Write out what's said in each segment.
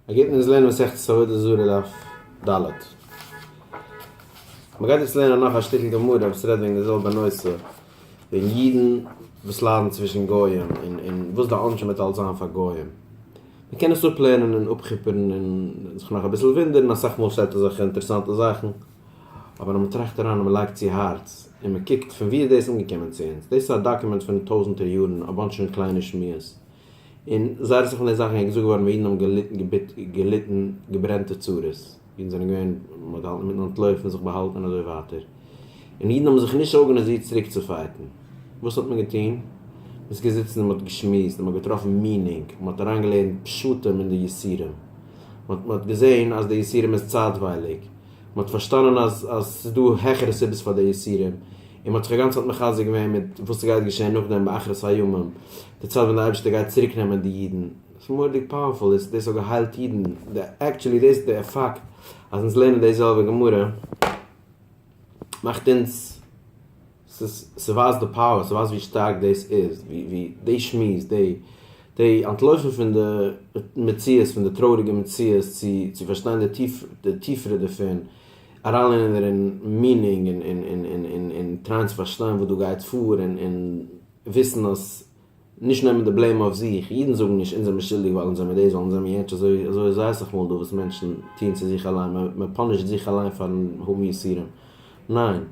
ער גייט מיט אונז לערנען מסכת עבודה זרה דף ד. מען גייט יעצט לערנען נאך א שטיקל גמרא וואס רעדט וועגן די זעלבע נושא, וועגן אידן וואס ליידן צווישן גוים, און וואס די עונשים וועט אלץ זיין פאר גוים. מען קען עס אפלערנען און אפכיפערן און זיך נאך אביסל וואונדערן, אסאך מאל שטייט אזעלכע אינטערעסאנטע זאכן, אבער אז מען טראכט אריין און מען לייגט צו הארץ, און מען קוקט פון וואו איז דאס אנגעקומען צו אונז, דאס איז א דאקומענט פון טויזנטער יארן, אבאנטש פון קליינע שמועות. און זייער אסאך פון די זאכן איז געזאגט געווארן ווען אידן האבן געליטן געברענטע צרות, אידן זענען געווען, מען האט געהאלטן מיטן אנטלויפן, זיך באהאלטן און אזוי ווייטער, און אידן האבן זיך נישט ארגאניזירט צוריק צו פייטן, וואס האט מען געטון? מען איז געזיצן און מען האט געשמועסט און מען האט געטראפן מינינג, מען האט אריינגעלערנט פשטים אין די יסורים, מען האט געזען אז די יסורים איז צייטווייליג, מען האט פארשטאנען אז עס איז דא העכערע סיבות פאר די יסורים, און מען האט זיך א גאנצע צייט מחזק געווען מיט וואס עס גייט געשען נאכדעם ביי אחרית הימים, די צייט ווען די אייבערשטער גייט צוריק נעמען די אידן, עס איז מורא'דיג פאוערפול, דאס האט געהיילט אידן, עקטשעלי דאס די פאקט אז אונז לערנען די זעלבע גמרא מאכט אונז. ס'ווייזט די פאוער, ס'ווייזט ווי שטארק דאס איז, ווי די שמועס, די אנטלויפן פון די מציאות, פון די טרויעריגע מציאות צו פארשטיין די טיפערע דערפון, אריינלערנען דערין מיענינג און טרייען צו פארשטיין וואס דא גייט פאר און וויסן אז נישט נעמען די בלעים אויף זיך, אידן זאגן נישט אונז זעמיר שולדיג ווייל אונז זעמיר דאס ווייל אונז זעמיר יענטש אזוי אזוי זייערס אויף מאל דא וואס מענטשן טוען צו זיך אליין מען מען פאנישט זיך אליין פארן האבן יסורים ניין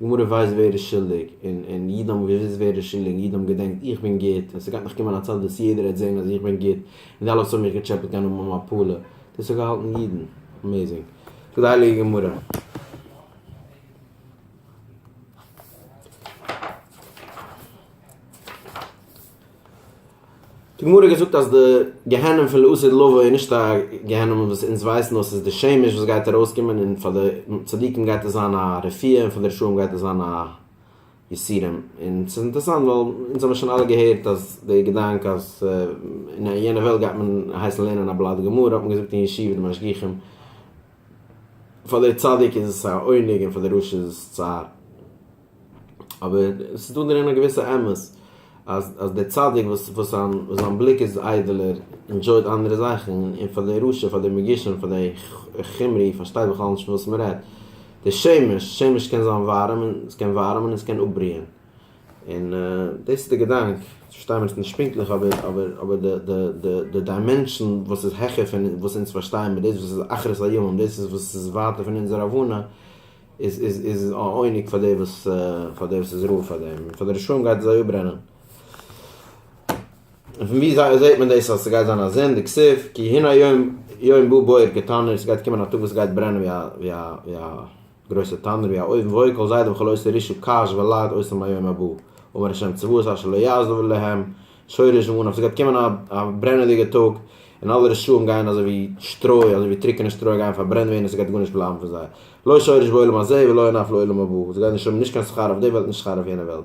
די גמרא ווייסט ווער איז שולדיג און און אידן האבן געוויסט ווער איז שולדיג און אידן האבן געדענקט איך בין גוט און ס'גייט נאך קומען א צייט וואס יעדער וועט זעהן אז איך בין גוט און די אלע וואס האבן מיך געטשעפעט גייען האבן א מפלה דאס האט געהאלטן אידן אמעזינג די הייליגע גמרא. די גמרא האט געזאגט אז די גיהנום פון לא עשה דלא עשה איז נישט א גיהנום וואס אונז ווייסן נאר ס'איז די שמש וואס גייט ארויסקומען און פאר די צדיקים גייט עס זיין א רפיאה און פאר די רשעים גייט עס זיין א יסורים און ס'איז אינטערעסאנט ווייל אונז האבן שוין אלע געהערט אז די געדאנק אז אין יענע וועלט גייט מען הייסן לערנען א בלאט גמרא האט מען געזאגט אין ישיבה די משגיחים פאר דער צדיק איז עס א עונג און פאר דער רשע איז עס צער, אבער עס איז דא דערין א געוויסע אמת אז אז דער צדיק וואס וואס זיין זיין בליק איז איידעלער ענדזשויט אנדערע זאכן, און פאר דער רשע פאר דער מגושם פאר דער חומרי פארשטייט בכלל נישט פון וואס מען רעדט, דער שמש, שמש קען זיין ווארעם און עס קען ווארעמען און עס קען אפבריען. און דאס איז די געדאנק, פארשטיי מיר עס נישט פונקטליך אבער אבער אבער די די די די דיימענשאן וואס איז העכער פון וואס אונז פארשטייען מיט דאס וואס איז אחרית הימים דאס איז וואס איז ווייטער פון אונזער הבנה איז איז איז א עונג פאר די וואס פאר די וואס איז רואה פאר דעם און פאר די רשעים גייט עס זיי אפברענען. און פון ווי זיי זעט מען דאס אז ס'גייט זיין א זון די כסוף כי הנה יום יום בא בוער כתנור ס'גייט קומען א טאג וואס ס'גייט ברענען ווי א ווי א ווי א גרויסע טענער ווי א אויבן ואוי כל זיידע וכל עושה רישו קש ולעג אויסן ביום הבא אמר השם צבאות אשר לא יעזבו להם שורש ואנף ס'גייט קומען א א ברענעדיגע טאג און אלע רשעים גייען אזוי ווי שטרוי אזוי ווי טרוקענע שטרוי גייען פארברענט ווערן און ס'גייט גארנישט בלייבן פון זיי לא שורש בעולם הזה ולא אנף לעולם הבא זיי גייען נישט האבן נישט קיין שכר אויף די וועלט נישט שכר אויף יענע וועלט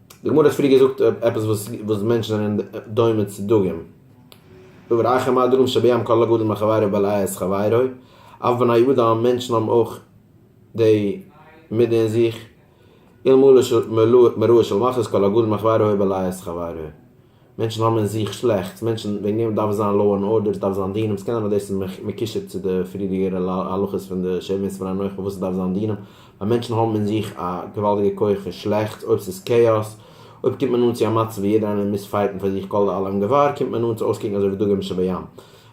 די גמרא האט פריער געזאגט אויף עפעס וואס מענטשן זענען דומה צו דגים, דברי אחי מה הדגים שבים כל הגדול מחבירו בלע את חבירו, אף בני אדם, מענטשן האבן אויך די מידה אין זיך, אלמלא מרוע של מחלות כל הגדול מחבירו בלע את חבירו. מענטשן האבן אין זיך שלעכטס, מענטשן, וועגן דעם דארף עס זיין לאו ענד ארדער, עס דארף זיין דינעם, ס'קען זיין אז דאס איז מקושר צו די פריערדיגערע הלכות פון די שבעים סימני הנוחה פארוואס עס דארף זיין דינעם, ווייל מענטשן האבן אין זיך א געוואלדיגע כח פון שלעכטס, אויב ס'איז כאאס, אויב קומט מען אן צו א מצב ווי יעדער איינער מוז פייטן פאר זיך כל העולם געוואר, קומט מען אן צו אויסקוקן אזוי ווי דגים שבים.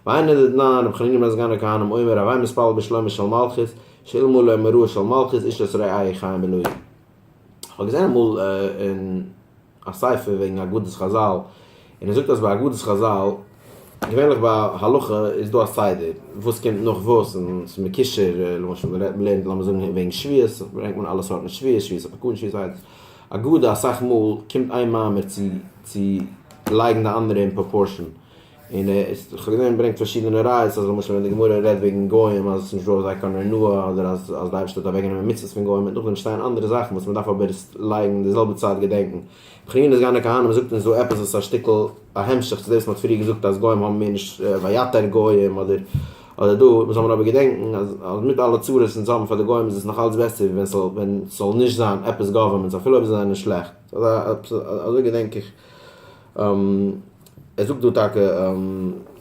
והיינו דתנן, רבי חנינא בן סגן הכהנים אומר, הווי מתפלל בשלומה של מלכות, שאילמא לא מרועה של מלכות איש את רעי' חיים בלוי'. כ'האב געזען אמאל אין. א ספר וועגן אגדות חזל, און ער זאגט אז ביי אגדות חזל, געווענליך ביי הלכה איז דא א סדר וואס קומט נאך וואס, און עס איז מקושר, למשל מען רעדט, מען לערנט לאמיר זאגן וועגן שביעות, ברענגט מען אלע סארטן שביעות, שביעות הפקוד, שביעות א. אגדה אסאך מאל קומט איין מאמר צו צו לייגן די אנדערע אין פראפארשען, און ער איז דאך געווען און ברענגט פארשידענע ראיות אז למשל ווען די גמרא רעדט וועגן גוים אז עס איז נישט דא אויף זיי קיין עונוה אדער אז אז די אייבערשטער האט אוועק גענומען מצוות פון גוים און נאכדעם שטייען אנדערע זאכן וואס מען דארף אבער לייגן די זעלבע צייט געדענקן בחינת גן הכהנים זאגט אונז דא עפעס וואס איז א שטיקל א המשך צו דאס וואס מען האט פריער געזאגט אז גוים האבן מער נישט ויתר גוים אדער אדער דא מען זאל מען אבער געדענקן אז אז מיט אלע צרות וואס אונז האבן פאר די גוים איז עס נאך אלץ בעסער ווי ווען ס'זאל ווען ס'זאל נישט זיין עפעס גאווערמענטס אפילו אויב זיי זענען שלעכט אזוי געדענק איך. ער זאגט דא טאקע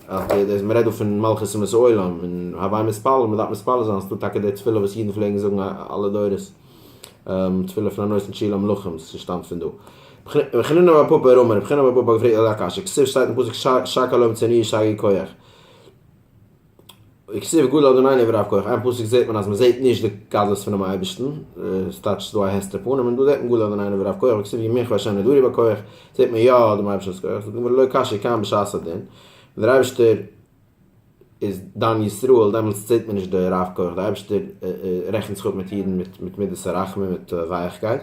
אז מען רעדט דא פון מלכות אומות העולם און הווי מתפלל, מען דארף מתפלל זיין, ס'איז דא טאקע די תפילה וואס אידן פלעגן זאגן אלע דורות, תפילה פון הנותן תשיעי למלכים, ס'שטאמט פון דא. חנינא בר פפא ער אמר, רבי חנינא בר פפא האט געפרעגט אזא קשיא, כסדר שטייט אין פסוק שק הלום צעניו שגי כח, וכסיב גדול אדונינו ורבקח, אין פסוק זעט מען אז מען זעט נישט די גדלות פונעם אייבערשטן, עס טייטש ס'איז דא א הסתר פנים, און דא זעט מען גדול אדונינו ורבקח, וכסיב ימיך וה' נדרי בכח, זעט מען יא דעם אייבערשטנ'ס כח, זאגט די גמרא לא קשיא כאן בשעת הדין, ווען דער אייבערשטער איז דן ישראל דעמאלטס זעט מען נישט די רבקח, דער אייבערשטער רעכנט זיך אפ מיט אידן מיט מידת הרחמים מיט ווייכקייט,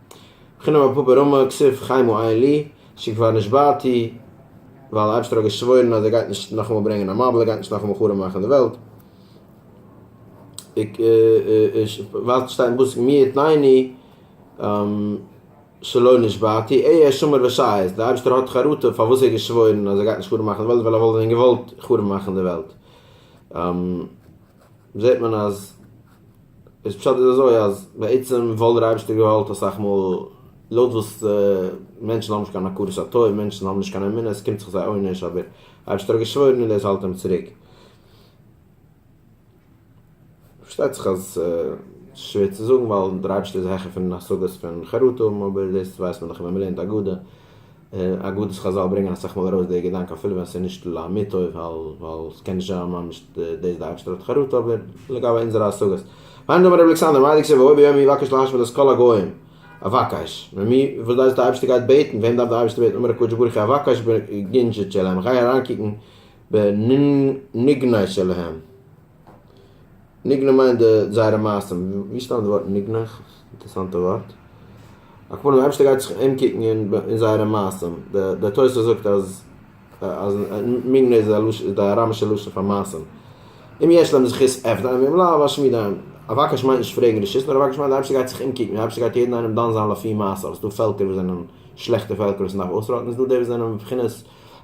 חינם אפי' ברמה כסוף חיימו עיין לי, שכבר נשבעתי, ווייל די אייבשטער האט געשוואוירן אז ער גייט נישט נאכאמאל ברענגען א מבול, ער גייט נישט נאכאמאל חרוב מאכן די וועלט, ווייזט שטיין בפסוק מי יתנני שלא נשבעתי, איה שומר ושייס, די אייבשטער האט חרטה פארוואס ער האט געשוואוירן אז ער גייט נישט חרוב מאכן די וועלט, ווייל ער וואלט ווען געוואלט חרוב מאכן די וועלט. זעט מען אז דאס פשט איז אזוי אז בעצם וואלט דער אייבערשטער געוואלט אסאך מאל לויט וואס מענטשן האבן נישט קיין הכרת הטוב, מענטשן האבן נישט קיין אמונה, עס קומט זיך זיי עונש, אבער דער אייבערשטער האט געשוואוירן און דאס האלט אים צוריק. פארשטייט זיך אז עס איז שווער צו זאגן ווייל דער אייבערשטער איז העכער פון השגות פון חרטה, אבער דאס ווייסט מען דאך ווען מען לערנט הגדה אין אגדות חזל ברענגען אסאך מאל ארויס די געדאנק אפילו ווען ס'איז נישט לאמיתו ווייל ס'קען נישט זיין ממש דאס די אייבערשטער האט חרטה אבער לגבי אונזערע השגות היינט אמר רבי אלכסנדר מה דכתיב והוי ביום ההוא יבקש להשמיד את כל הגוים אבקש ממי וואס דאס איז די אייבערשטער גייט בעטן וועם דארף די אייבערשטער בעטן אמר הקדוש ברוך הוא אבקש בגנז'ת שלהם איך גיי אריינקוקן בנגנאי שלהם. ניגנה מיינט די זייערע מעשים, ווי שטאמט די ווארט ניגנה? אינטערסאנטע ווארט. הכוונה די אייבערשטער גייט זיך אומקוקן אין זייערע מעשים, דער תוס' זאגט אז אז ניגנה איז איז די אראמישע לשון פאר מעשים, אם יש להם זכות עבדים ואם לאו אשמיד עהם, אבקש מיינט נישט פרעגן רשות נאר אבקש מיינט די אייבערשטער גייט זיך אומקוקן, די אייבערשטער גייט יעדן איינעם דן זיין לפי מעשיו, עס איז דא פעלקער וואס זענען שלעכטע פעלקער וואס מען דארף אויסראטן, עס איז דא די וואס זענען בבחינת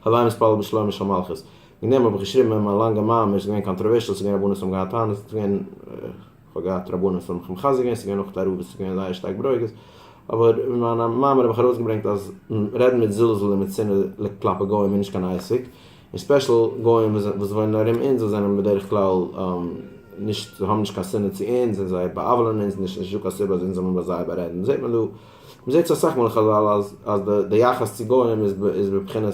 הווי מתפלל בשלומה של מלכות. אין דעם האב איך געשריבן אין מיין לאנגע מאמר, ס'איז געווען קאנטראווערשעל, ס'איז געווען רבנים האבן געהאט טענות, ס'איז געווען, איך האב געהאט רבנים וואס האבן מיך מחזק געווען, ס'איז געווען אויך תערובות וואס איז געווען זייער שטארק ברוגז, אבער אין מיין מאמר האב איך ארויסגעברענגט אז רעדן מיט זלזול און מיט שנאה כלפי גוים איז נישט קיין עסק, און ספעשל גוים וואס וואוינען ארום אונז וואס זענען בדרך כלל נישט, זיי האבן נישט קיין שנאה צו אונז און זיי בא'עוולה'ן אונז נישט, נישטא קיין סיבה אז אונז זאל מען ביי זיי בארעדן, זעט מען דא, מ'זעט עס אסאך מאל אין חזל אז די יחס צו גוים איז בבחינת.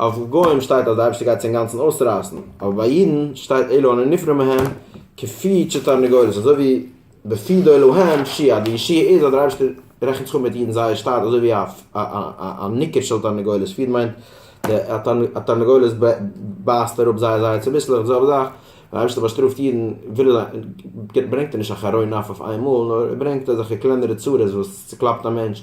אויף גוים שטייט אז די אייבערשטער גייט זיי אינגאנצן אויסרייסן, אבער ביי אידן שטייט אלו אנו נפרע מהם כפי ש תרנגולת, אזוי ווי בפי דו להם שי' אז די ישועה איז אז דער אייבערשטער רעכנט זיך אפ מיט אידן זייער שטאט אזוי ווי א ניקר של תרנגולת, פיד מיינט א תרנגולת בייסט אראפ זייער זייער צוביסלעך, די זעלבע זאך ווען דער אייבערשטער באשטראפט אידן ברענגט ער נישט א חרון אף אויף איינמאל נאר ער ברענגט אזעלכע קלענערע צרות וואס צוקלאפט א מענטש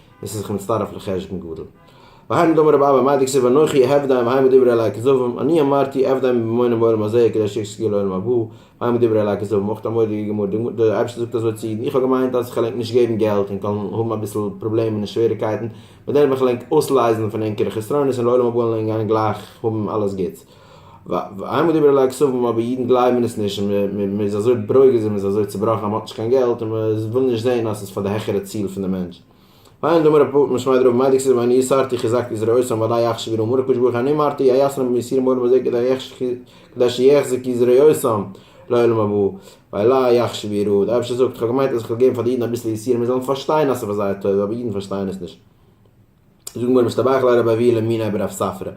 עס איז זיך מצטרף לחשבון גדול. והאי מדאמר רב אבא מאדיג זיע ואנוכי עבדיים והאי מדברי אליי כזבים, אני אמרתי עבדיים בממונם בעולם הזה כדי שיחזקו יהיה לעולם הבא, והאי מדברי אליי כזבים אויך א מורא'דיגע גמרא, די גמרא, דער אייבערשטער זאגט אזוי צו אידן, איך האב געמיינט אז כ'וועל ענק נישט געבן געלט און כ'וועל האבן אביסל פראבלעמען און שוועריגקייטן, מיט דעם וועל איך ענק אויסלייזן פון ענקערע חסרונות און לעולם הבא וועלן ענק גיין גלייך האבן אלעס גוטס. ואין מדובר אלא על כספים אבער אידן גלייבן עס נישט און מען איז אזוי ברוגז און מען איז אזוי צובראכן אז מען האט נישט קיין געלט און מען וויל נישט זען אז עס איז פאר די העכערע ציל פון די מענטש. ואין דומה רב פפא משמעי דרבה מאי דכסיל ואני יסרתי חזקתי את זרעו אסון ודאי יחשב ירום הון הקדוש ברוך הוא אני מרתי אייאסן רבים יסירים מורים בזה כדי שיחזק את זרעותם לעולם הבא ואללה יחשב יראו. דער אייבערשטער זאגט איך האב געמיינט אז איך וועל געבן פאר די אידן אביסל יסירים זיי זאלן פארשטיין אז עס איז פאר זייער טובה אבער אידן פארשטייען עס נישט. זאגן בנים שטבח לר' אבי' למיני' ברב ספרא,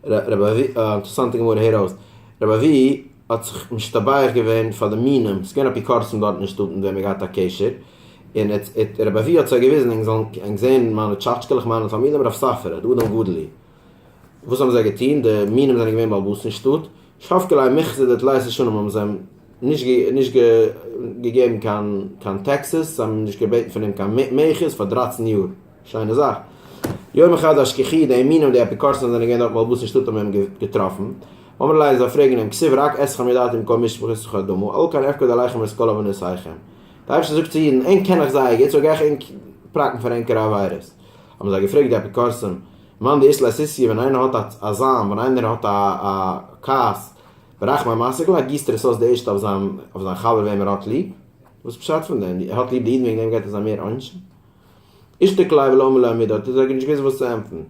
רב אבי', א אינטערעסאנטע גמרא, הער אויס, רב אבי' האט זיך משתבח געווען פאר די מינים, ס'איז געווען אפיקורסים דארט אין שטאט מיט וועם ער האט געהאט א קשר, און רב אבי' האט זיי געוויזן, ענק זאלן ענק זען מיינע טשאטשקעלעך מיינע תלמידים רב ספרא, די אדם גדול הוא. וואס האבן זיי געטון, די מינים זענען געווען באלבאס אין שטאט, שפקעלייען מחזור די תליית'ע שנים האבן זיי אים נישט געגעבן קיין טעקסעס, זיי האבן נישט געבעטן פון אים קיין מעכות פאר דרייצן יאר. שיינע זאך. יום אחד השכיחי די מינים די אפיקורסים זענען געווען דארט מלבוש אין שטאט האבן אים געטראפן. אמר אליי זיי פרעגן אים כסוף רק עשכם ידעתם מקום משפחת וכדומה על כן אפקד עליכם את כל עוונותיכם. די אייבערשטער זאגט צו אידן ענק קען איך זייער גוט סאו גיי איך ענק פראקן פאר ענקערע עבירות. האבן זיי געפרעגט די אפיקורסים מאן דאיש לעסיסיה ווען איינער האט א זאם ווען איינער האט א א כעס ברחמי מעשיך לע גיסט ער עס אויס די ערשטע אויף זיין אויף זיין חבר וועם ער האט ליב. וואס פשט פון דעם? ער האט ליב די אידן וועגן דעם געט ער זיי מער עונשים? אשתקלאי ולא מילא עמידא האט ער זיי נישט געוואוסט וואס צו ענטפערן.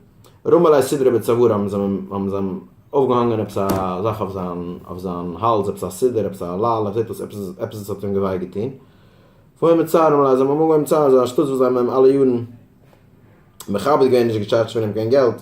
רמא ליה סידרא בצווארא האבן זיי אים האבן זיי אים אויפגעהאנגען עפעס א זאך אויף זיין אויף זיין האלז עפעס א סידור עפעס א אלל איך זעה דאס עפעס איז עפעס עס האט אים וויי געטון פוהא מצער רמא ליה זיי האבן אים אנגעהויבן צער אזא שטות וואס זיי האבן אים אלע יארן מכבד געווען נישט געטשארדזשט פון אים קיין געלט.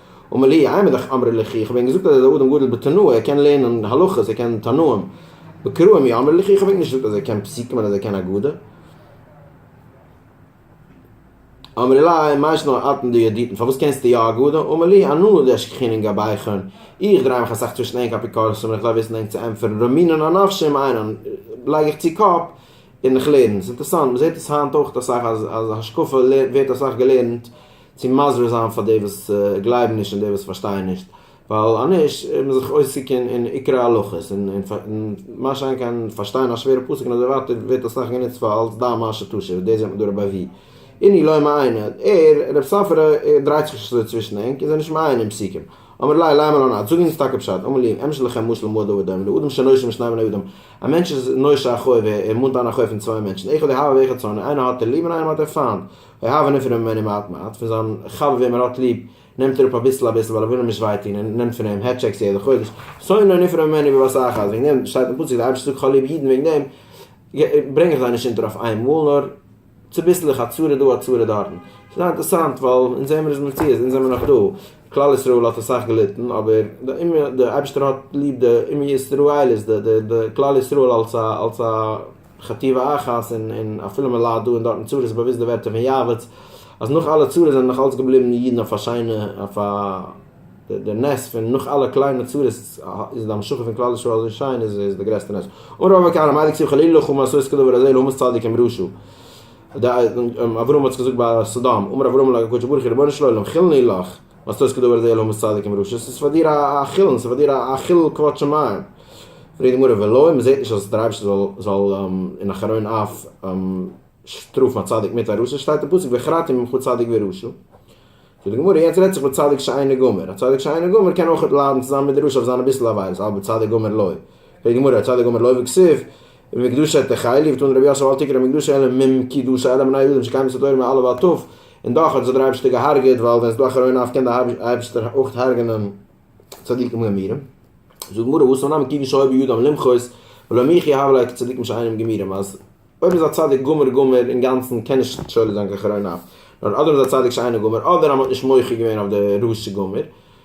אמר לי, עמי לך אמרי לך, איך האב ענק געזאגט אז ער איז א אדם גדול בתנועה, ער קען לערנען הלכות, ער קען תנאים, בקרא עמי אמרי לך, איך האב ענק נישט געזאגט אז ער קען פסוקים און אז ער קען אגדה. אמרי לי, מה ישנא אתנא דידיתנא, פארוואס קענסטו יא אגדה? אמר לי, אנא נא דעש כחנין גבאיכון, איך דריי מיך אסאך צווישן ענק אפיקורסים און איך דארף וויסן ענק צו ענטפערן רמינן על נפשי עם עיינן, לייג איך צו קאפ און איך לערן. ס'אינטערסאנט, מ'זעט עס היינט אויך אסאך אז השקפה ווערט אסאך געלערנט, צו מסביר זיין פאר די וואס גלייבן נישט און די וואס פארשטייען נישט, ווייל אנישט איז מען זיך עוסק אין עיקרי הלכות און מה שאין כן פארשטיין א שווערע פסוק און אזוי ווייטער ווערט אסאך גענוצט פאר אלס דע מה שתשיב, דאס זעט מען דא רבי אבי איני לא מעיין, ער, רב סאפרע, דרייט זיך נישט אזוי צווישן ענק און זיי נישט מעיין אין פסוקים, אמר ליה ליה מלא נד, זאג אונז טאקע פשט, אמר ליה, אמשל לכם משל מועדה ודומה לאדם שנושע משני בני אדם, א מענטש איז נושע א חוב, ער מאנט אן א חוב פון צוויי מענטשן, אחד אוהב ואחד שונא, איינער האט ער ליב און איינעם האט ער פיינט, דערהייבענען פון אים ווען אים האט מעט, פון זיין חבר וועם ער האט ליב נעמט ער אפ אביסל אביסל ווייל ער וויל אים נישט וויי טון און נעמט פון אים העט טשעקס יעדע חודש, שונא און נפרע ממני בבא סאכא אז וועגן דעם שטייט אין פסוק די אייבערשטער זאגט כ'האב ליב אידן וועגן דעם ברענג איך זיי נישט אונטער אויף איין מאל נאר צוביסלעך א צרה דא א צרה דארטן, ס'איז זייער אינטערעסאנט ווייל אונז זעמער איז מציאות אונז זעמער נאך דא, כלל ישראל האט אסאך געליטן אבער די אומה די אייבערשטער האט ליב די אומה ישראלית די די כלל ישראל אלס א אלס א. חטיבה אחת און און אפילו מען ליידט דא און דארט און צרות איז באוויסט די ווערטער פון יעבץ אז נאך אלע צרות זענען נאך אלץ געבליבן די אידן אויף א שיינע אויף א די נס פון נאך אלע קליינע צרות איז די המשכה פון כלל ישראל אזוי שיין איז איז די גרעסטע נס און רוב הקהל אמר דקסיו חלילה לך ומה עשו עסקו דבר הזה לעומת צדיק עם רשע אברהם האט זיך געזאגט ביי סדום אמר אברהם אל הקדוש ברוך הוא רבונו של עולם חילני לך וואס טויסט כדבר הזה לעומת צדיק עם רשע? ס'איז פאר דיר א חילול, ס'איז פאר דיר א חילול כבוד שמים. פרעגט די גמרא, ולא אויב מ'זעט נישט אז דער אייבערשטער זאל אין אחרון אף שטראפן א צדיק מיט א רשע, שטייט אין פסוק וחרתים ממך צדיק ורשע. זאגט די גמרא, יעצט רעדט זיך מיט צדיק שאינו גמור, א צדיק שאינו גמור קען אויכעט ליידן צוזאמען מיט די רשע אויף זיינע ביסל עבירות, אבער צדיק גמור לא. פרעגט די גמרא, צדיק גמור לא וכסיף? ומקדשי תחי' ליפט אן רבי יוסף אלטיקער המקדשי אלא מ מ כי דאס אלע בני יהודים שקיימת התורה מעל אב ועד תב און דאך האט זיי דער אייבערשטער געהארגעט ווייל ווען עס איז דא א כראון אב קען דער אייבערשטער אויך הרג'נען צדיקים גמירים. זאגט די גמרא וואס נאמען כיוון שהיו בידם למחות ולא מיחי הוה ליה כצדיקים שאינם גמירים אז אויב איז א צדיק גמור גמור אינגאנצן קען נישט שולט זיין קיין כראון אב נאר אדער איז א צדיק שאינו גמור אדער אז מען האט נישט מוחה געווען אויף די רשע גמור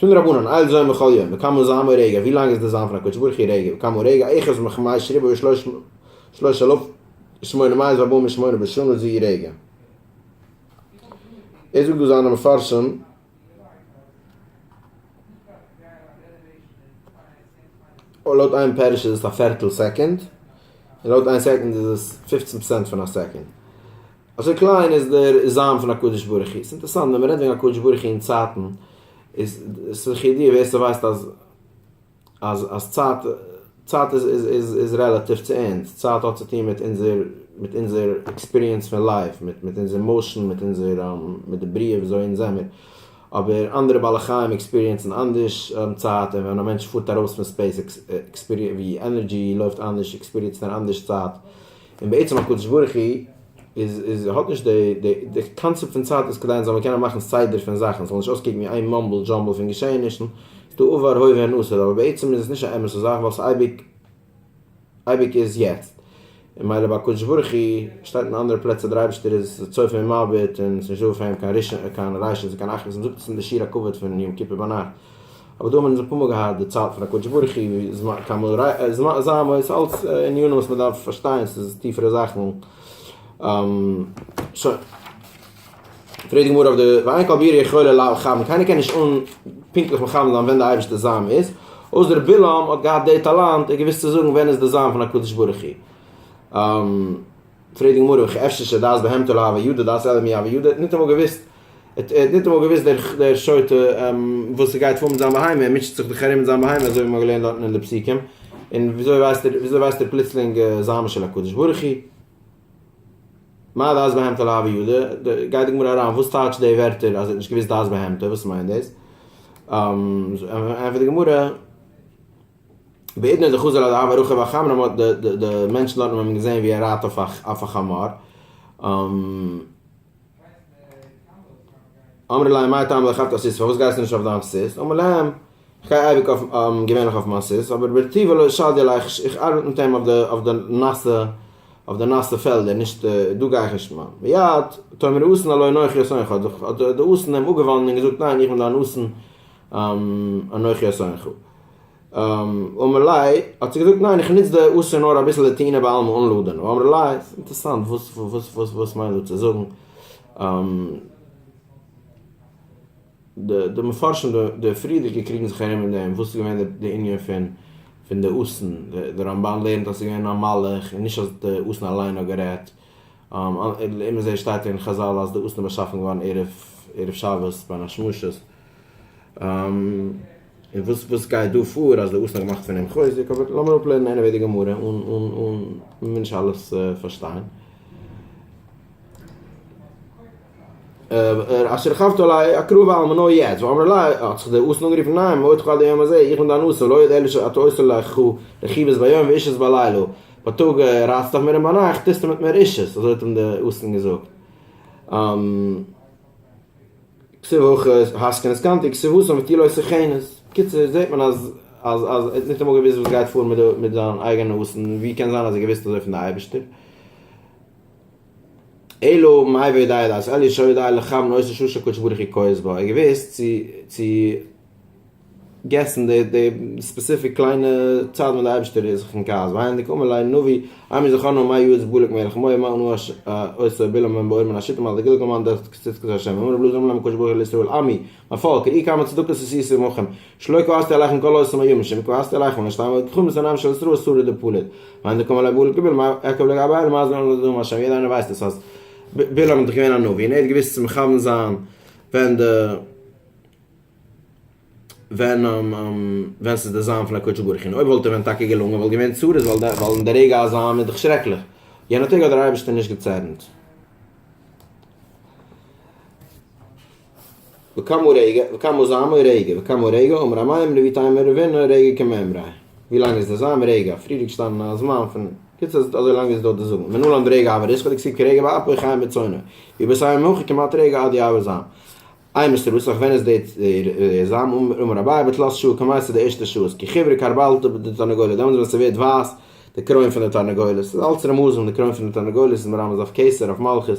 פון רבנן אייל זוין בכל יום וכמה זעם רגע ווי לאנג איז די זעם פון הקדוש ברוך הוא רגע וכמה רגע אחד מחמש שריבא ושלוש אלף ושמונה מאות וארבעים ושמונה בשנה זי רגע ער זאגט דא זיינע מפרשים לויט איין פערש איז עס א פערטל סעקענד און לויט איין סעקענד איז עס פֿופֿצן פראצענט פון א סעקענד אזוי קליין איז דער זיין פון הקדוש ברוך הוא. ס'אינטערסאנט ווען מ'רעדט וועגן הקדוש ברוך הוא אין צייטן, איז עס לכ' ידיעה ווער ס'ווייסט אז אז אז צייט צייט איז איז איז איז רעלאטיוו צו אונז, צייט האט צוטון מיט אונזער מיט אונזער עקספיריענס פון לייף, מיט מיט אונזער מאושען, מיט אונזער מיט די בריאה וויאזוי אונז זעמיר. אבער אנדערע בעלי חיים עקספיריענסן אנדערש צייט, און ווען א מענטש פארט ארויס פון ספעיס עקספיריענס ווי ענערדזשי לויפט אנדערש עקספיריענסט ער אנדערש צייט. און בעצם הקדוש ברוך הוא איז איז האט נישט די די די קאנצעפט פון צייט איז כדי ענס זאלן קענען מאכן סדר פון זאכן ס'זאל נישט אויסקוקן ווי איין מאמבל דזשאמבל פון געשעענישן, ס'דא עבר הווה און עתיד אבער בעצם איז עס נישט א אמת'ע זאך ווייל ס'אייביג אייביג איז יעצט און מילא ביי הקדוש ברוך הוא שטייט אין אנדערע פלעצער דער אייבישטער איז צופה ומביט און ס'נישט דא אויף אים קיין קיין ריישענס און קיין אחרות מ'זאגט עס אין די שיר הכבוד פון יום כיפור ביינאכט. אבער דא האבן מיר נישט אפאמאל געהאט די צייט פון הקדוש ברוך הוא ווי זמן כמה רייד זמן זיין וואס איז אלץ ענינים וואס מען דארף פארשטיין ס'איז טיפערע זאכן שוין פרעגט די גמרא אויף די ואין כל בירה יכולה לכוון קיינער קען נישט אן פונקטליך מכוון זיין ווען די אייבערשטע זיין איז אויסער בלעם האט געהאט די טאלאנט ער האט געוויסט צו זאגן ווען איז די זיין פון הקדוש ברוך הוא. פרעגט די גמרא וכי אפשר שדעת בהמתו להוה יודע דעת אלא מי הוה יודע, ער האט ניטאמאל געוואוסט, ער האט ניטאמאל געוואוסט דער דער שוטה וואס ס'גייט פאר מיט זיין בהמה, ער מוטשעט זיך דאך ארום מיט זיין בהמה אזוי ווי מ'האט געלערנט דארטן אין די פסוקים, און וויאזוי ווייסט ער וויאזוי ווייסט ער פלוצלינג זעם של הקדוש ברוך הוא? מה דעת בהמתו להוה יודע, גייט די גמרא אריין וואס טייטשט די ווערטער אז ער האט נישט געוואוסט דעת בהמתו וואס מיינט דאס? ענטפערט די גמרא. בעידן איז ער חזר על דער עבר רחוב החמרא מ'האט די מענטשן דארטן האבן אים געזעהן ווי ער רייט אויף א חמור. אמרו להם מה טעם לרכבת על סוס פארוואס גייסטו נישט אויף דיין סוס אמר להם איך גיי אייביג אויף געווענליך אויף מיין סוס אבער ברטיב ולא שדי עלי איך ארבעט מיט אים אויף די נאסע אויף די נאסע פעלדער נישט דא גיי איך נישט מיין מיד תאמר אסן הלא אנכי אסנך האט די אסן אים אפגעוואנדן און געזאגט ניין איך בין דיין אסן אנכי אסרנך. אמר לי, האט ער געזאגט, ניין, איך נוץ די אסור נאר אביסל לטעינה בעלמא אן לאדענען. אמר לי, אינטערסאנט, וואס מיינט דא צו זאגן? די מפרשים די פריערדיגע קריגן זיך ארום אין דעם, וואס איז געווען די ענין פון די אסן, די רמבן לערנט אז ס'איז געווען א מלאך, און נישט אז די אסן אליין האט גערעדט. לעומת זה שטייט אין חזל אז די אסטן באשאפן געווארן ערב שבת ביי א שמשות, און וואס וואס גייט דא פאר אז די אסטן האט געמאכט פון אים חוזק, אבער לאמיר אפלערנען עניוועי די גמרא אן אן מיר נישט אלעס פארשטיין. אשר חבת עלי אקרא ואלמנה יעצט ואמר לה האט זיך דער אסון אנגערופן ניין מועדך עד היום הזה איך בין דיין אסון לא יודע אלא שאתה עושה לך חו רכיבות ביום ואישות בלילה בייטאג רייצט אויף מיר און ביינאכט טוסטו מיט מיר אישות אזוי האט אים דער אסון געזאגט כסו הוכות האסקן עסקנתי כסו הוסן ותהי לו עשר חנות בקיצור זעט מען אז אז ער האט ניטאמאל געוויסט וואס גייט פאר מיט זיין אייגענע אסון ווי קען זיין אז ער האט געוויסט אזוי פון די אייבערשטער. אלא מאי וודאי דאס אל ישא ידו אל לחם לא עשה שום שהקדוש ברוך הוא כועס בו ער האט געוואוסט צו צו געסן די די ספעסיפיק קליינע צייט ווען די אייבערשטער איז זיך אין כעס והיינו דקאמר ליה נביא אמר זכרנו מאי יועץ בלק מלך מאי מה ענו עשה בלעם בן בעור מן השיטים על דגילגל מאן דכרת קצית קצית השם אמר רב לוזי אמר להם הקדוש ברוך הוא על ישראל עמי א פאלק, אי כמה צדקות עשית עמכם, שלא כעסתי עליכם כל העושים היו משום כעסתי עליכם ולא סתם אלא כחומס עיניהם של ישראל סורי דפליג. מאן דקום עלי בלע ג מה עקב ל ג הבעל מה זה לא נודעו מה שם יעדער איינער ווייסט עס אז בלעם איז דאך געווען א נביא און ער האט געוויסט צו מכוון זיין ווען די ווען ווען ס'איז די זיין פון הקדוש ברוך הוא און אויב וואלט ער ווען טאקע געלונגען וואלט געווען צרות ווייל אין די רגע א זיין איז דאך שרעקליך יענע טעג האט דער אייבערשטער נישט געצערנט. וכמה רגע, וכמה זמן רגע, וכמה רגע, אמר המים רבי טיימער רבינו רגע כמאמרי, ווי לאנג איז דער זמן רגע, האט פריער געשטאנען א זמן פון, קיצור אז אזוי לאנג איז דא די זמן, ונלם ברגע אבר איסכא דכסיב כרגע באפו חיים בצונו, ווי ביי סיום הויך כמעט רגע עד יעבור זעם, איי מסתבר וואס אויך ווען איז דער זמן, אמר אביי בתלת שעה כמעט צו די ערשטע שעות, כי חיוורא כרבלתא די תרנגולת, דעמאלס ווען ס'ווערט ווייס די קרוין פון די תרנגולת, ס'איז אלץ רמזים די קרוין פון די תרנגולת איז מרמז אויף קיסר אויף מלכות.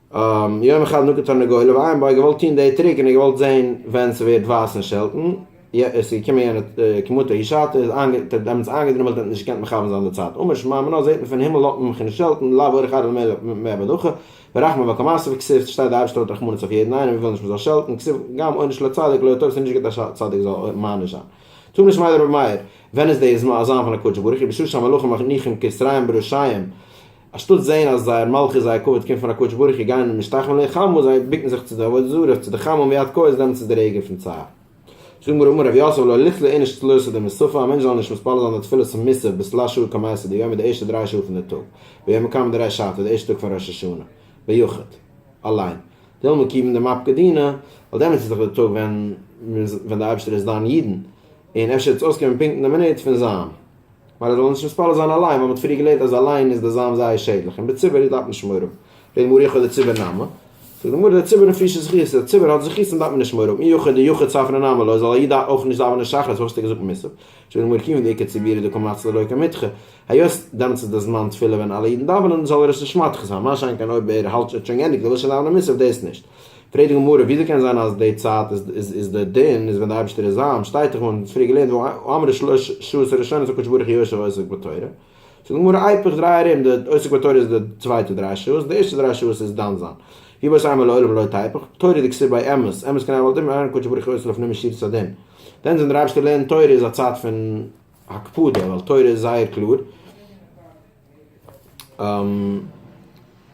יום אחד נקט פארן גואל אויף איינבוי געוואלט טוהן די טריק און ער האט געוואלט זעהן ווען ס'ווערט ווייס און שעלטן איז געקומען יענע כמותו איש האט דעמאלטס איינגעדרומעלט און האט נישט געקענט מכוון זיין די צייט אמר שמע מנא זעהט מען פון הימל לויט ממך און שעלטן לאו אורך ארבע מאה בדחא ורחמא וקמאסא וכסוף ס'שטייט די אייבערשטער האט רחמנות אויף יעדן איינעם און וויל נישט מ'זאל שעלטן כסוף גם עונש לצדיק לא טוב ס'איז נישט גוט א צדיק זאל מעניש זיין טוב נישט מיידער רבי מאיר ווען איז די זמן פון הקדוש ברוך הוא בשעה שהמלאכים מניחים כתריים בראשיים אנשטאט זען אז זייער מלכות זייער כבוד קומט פון הקדוש ברוך הוא גייען משתחווין לו חמול זיי בוקן זיך צו די עבודה זרה צו די חמול מיד כעוס דעמאלטס איז די רגע פון צער זאגן מיר אמר ר' יוסף לא לכלא איניש תלותא דמסופא א מענטש זאל נישט מתפלל זיין די תפילות פון מוסף ביז תלש שעה כמעשה די יומא די ערשטע דריי שעה פון די טאג ביומא קמא דרש ש ט די ערשטע טאג פון ראש השנה ביחוד אליין דילמא קיבן דמפ ק דינא ווייל דעמאלטס איז דאך די טאג ווען ווען די אייבערשטער איז דן אידן און אפשר האט עס אויסגעהויבן פונקט אין די מינוט פון זיין ווייל ער זאל נישט מתפלל זיין אליין ווייל מען האט פריער געלערנט אז אליין איז די זיין זייער שעדליך און בציבור דארף מען שמור האבן ואין מוריך את הציבור נמי זאגט די גמרא דער ציבור האט פרישע זכויות דער ציבור האט זכויות און דארף מען נישט שמור האבן אי יוכד די יוכד ספרא נמי לוי זאל א איד אויך נישט דאווענען שחרית פארוואס האסט דו געזאגט מוסף זאגט די גמרא כיוון דעיקר ציבור איז דא קיין מצות ללא קיין מדחה היות דעמאלטס איז די זמן תפילה ווען אלע אידן דאווענען זאל ער עס נישט מדחה זיין מה שאין כן אויב ער האלט ער האט שוין געענדיגט ער וויל שוין דאווענען מוסף דאס נישט פרעגט די גמרא, וויאזוי קען זיין אז די צייט איז די דין איז ווען די אייבערשטער איז זאם, שטייט דאך און מ'האט פריער געלערנט וואו אמרו שלש שעות הראשונות הקדוש ברוך הוא יושב עוסק בתורה, זאגט די גמרא היפך דריי ארום די עוסק בתורה איז די צווייטע דריי שעות, די ערשטע דריי שעות איז דן זיין. ווי בית הימי לעולם לא תהפוך, תורה דקסי' ביי אמת, אמת כנראה ווייל די מערן הקדוש ברוך הוא עושה לפנים משורת הדין, דן זיין די אייבערשטער לערנט תורה איז א צייט פון הקפדה ווייל תורה איז זייער קלאר,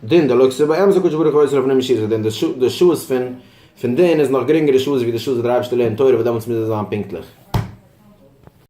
דין דלא כסא ביי אמת הקדוש ברוך הוא אוסר לפנים משורת הדין די שעות פון פון דין איז נאך גרינגערע שעות ווי די שעות וואס דער אייבערשטער לערנט תורה וואס דעמאלטס מוז עס זיין פונקטליך.